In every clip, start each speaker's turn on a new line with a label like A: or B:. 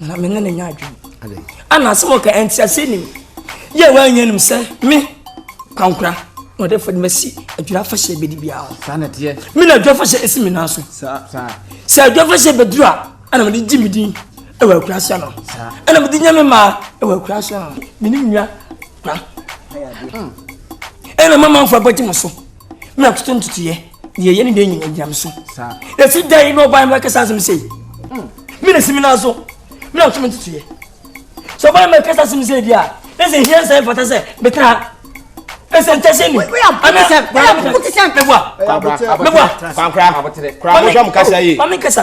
A: na me ne ne nya adwene ana asɛm ɔka ɛnti ase nim yɛ wanyɛ nim sɛ me kwankora na ɔde fɔde masi adwira afahyɛ bɛdi biara ho saa na teɛ me na adwira afahyɛ ɛsi me nan so sɛ adwira afahyɛ bɛduru a ɛna mede gye me din ɛwɔ akura so no ɛna mede nya me maa ɛwɔ akura so no me ne nua kura ɛna mama mfo abɛgye mo so me akoto ntutuiɛ Deɛ ɛyɛ ne deɛ nyina gyina me so ɛsi da yi na ɔbae no ɛkɛsa asɛm sei me na si me nan so me na ɔtumi ntutuiɛ sɛ ɔbae no ɛkɛsa asɛm sei deɛ a na sɛ ɛhia nsɛ mfata sɛ metra ha ɛsɛ ntɛsɛ ni anasɛ mɛboa mɛboa mɛboa mame nkasa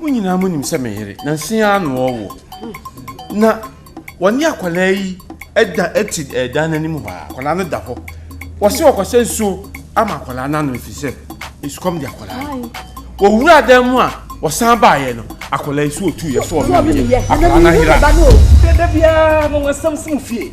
A: Mo nyinaa monim sɛ me yere, nanso yi ara na ɔrewo, na wɔne akwadaa yi da te eh, dan no anim hɔ a, akwadaa no da hɔ. Wɔse wɔkɔhyɛ nsuo ama akwadaa no anom ɛfiri sɛ esukɔm de akwadaa no. Wɔwura dan mu a wɔsan baeɛ no, akwadaa yi so ɔtuiɛ so ɔmemeeɛ, akwadaa no ayera. Dada biara no wɔasɛm si mo fie.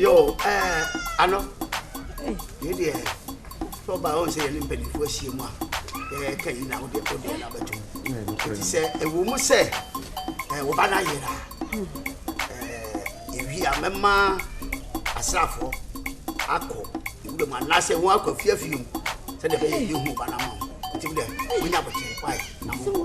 A: yo ɛɛ ano yɛ deɛ sɛ ɔba ɔn sɛ yɛne mpanimfoɔ ahyia mu a yɛka yi na wodeɛ wodeɛ no abɛto mu ɛti sɛ ɛwɔ mu sɛ woba no ayera yɛwie a mɛma asraafoɔ akɔ ɛwura mu anaasɛ wɔn akɔ afiafie mu sɛdeɛ bɛyɛ yɛhu ba no ama wo nti wodeɛ wonya bɔkyerɛ kwae na mo